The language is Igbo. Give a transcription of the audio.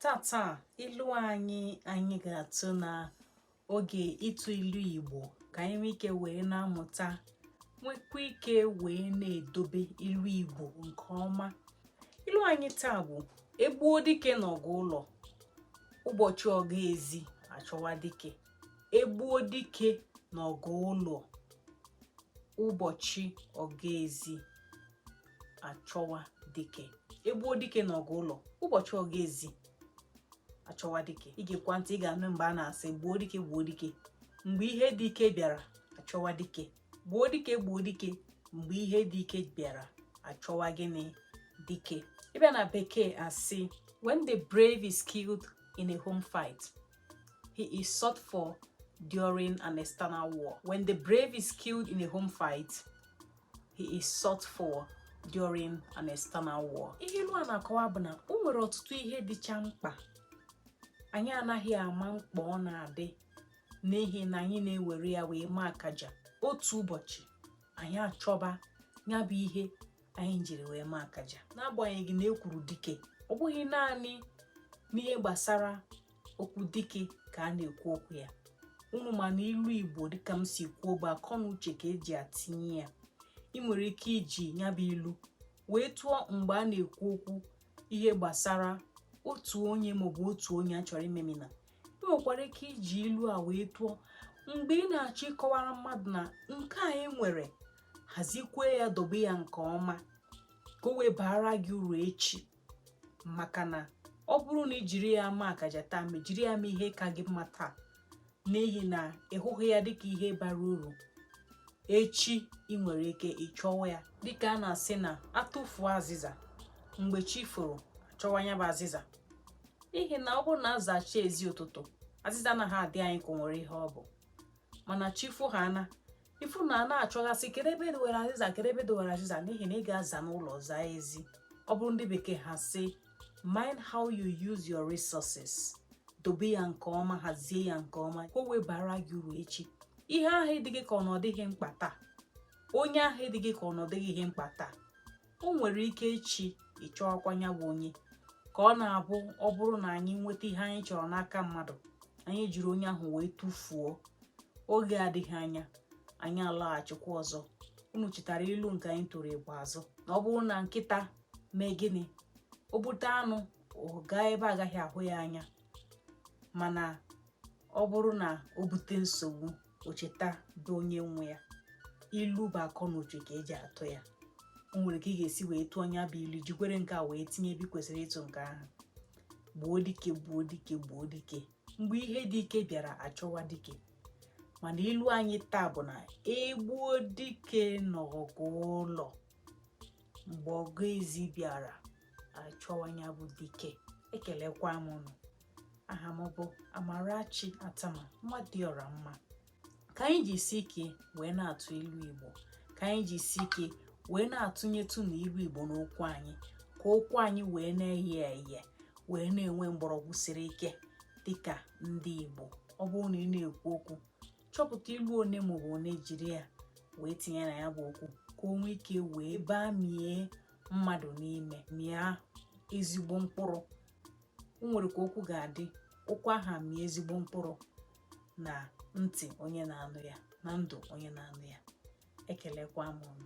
tata ilu anyị anyị ga-atụ na oge ịtụ ilu igbo ka anyị nwee ike wee na-amụta nwekwa ike wee na-edobe ilu igbo nke ọma ilu anyị taa bụ egbuo dike n'ọgụ ụlọ ụbọchị ọgụ ezi achọwa dike egbuo dike n'ọgụ ụlọ ụbọchị ọgụ ezi achọwa dike egbuo dike na ọgụ ụlọ ụbọchị ọgụ ezi achọwa dike i gekwa ntị ị ga-anụ mgbe a na-asị gbuo dike gbuo dike mgbe ihe dị ike bịara achọwa dike gbuo dike gbuo dike mgbe ihe dị ike bịara achọwa gịnị dike ị bịa na bekee a sị when the brave is killed in a home fight he is sought for during an external war when the brave is killed in a home fight he is sought for during an external war ihe ilu a na-akọwa bụ na o nwere ọtụtụ ihe dịcha mkpa anyị anaghị ama mkpa ọ na-adị n'ihi na anyị na-ewere ya wee maa akaja otu ụbọchị anyị achọba ya bụ ihe anyị jiri wee maa akaja n'agbanyeghị na ekwuru dike ọ bụghị naanị n'ihe gbasara okwu dike ka a na-ekwu okwu ya unu ma na ilu igbo dịka m si kwuo bụ akọ na uche ka eji atinye ya ị nwere ike iji ya bụ ilu wee tụọ mgbe a na-ekwu okwu ihe gbasara otu onye maọbụ otu onye a chọrọ imemina ị nwekwara ike iji ilu a wee tụọ mgbe ị na-achọ ịkọwara mmadụ na nke a ị nwere hazikwee ya dobe ya nke ọma ka o wee baara gị uru echi maka na ọ bụrụ na i jiri ya maa akaja taa ma jiri ya mee ihe ka gị mma taa n'ihi na ị hụghị ya dịka ihe bara uru echi ị nwere ike ịchọwa ya dịka a na-asị na atụfuo azịza mgbe chi foro achọwa ya bụ azịza n'ihi na ọ bụrụ na azacha ezi ụtụtụ azịza anaghị adị anyị ka o nwere ihe ọ bụ mana chi fo ha ana ị fụ na a na-achọghasị kedu ebe e dowere azịza kedu ebe e dowere azịza n'ihi na ị ga-aza n'ụlọ zaa ezi ọ bụrụ ndị bekee ha sị mind how you use your resources dobe ya nke ọma hazie ya nke ọma ka o wee baara gị uru echi ihe ahụ dị gị ka ọ na ọ dịghị mkpa taa onye ahụ dị gị ka ọ na ọ dịghị ihe mkpa taa o nwere ike echi ị chọọkwa ya bụ onye ka ọ na-abụ ọ bụrụ na anyị nweta ihe anyị chọrọ n'aka mmadụ anyị jiri onye ahụ wee tụfuo oge adịghị anya anyị alaghachikwa ọzọ unu chetara ilu nke anyị tụrụ ikpeazụ na ọ bụrụ na nkịta mee gịnị o bute anụ ọ gaa ebe agaghị ahụ ya anya mana ọ bụrụ na o bute nsogbu o cheta bụ onye nwe ya ilu bụ akọ na uche ka e ji atụ ya o nwere ka ị ga-esi wee tụọ ya bụ ilu jikwere nke a wee tinye ebe kwesịrị ịtụ nke ahụ gbuo dike gbuo dike gbuo dike mgbe ihe dị ike bịara a chọwa dike mana ilu anyị taa bụ na e gbuo dike n'ọgụ ụlọ mgbe ọgụ ezi bịara a chọwa ya bụ dike ekelekwa m unu aha m bụ Amarachi Attamah nwa dị ọra mma ka anyị jisie ike wee na-atụ ilu Igbo ka anyị jisie ike wee na-atụnyetụ na ilu Igbo n'okwu anyị ka okwu anyị wee na-eye eye wee na-enwe mgbọrọgwụ siri ike dịka ndị Igbo ọ bụrụ na ị na-ekwu okwu chọpụta ilu one maọbụ one jiri ya wee tinye na ya bụ okwu ka o nwee ike wee bamie mmadụ n'ime mịa ezigbo mkpụrụ o nwere ka okwu ga-adị okwu ahụ amịa ezigbo mkpụrụ na ntị onye na-anụ ya na ndụ onye na-anụ ya ekelekwa m unu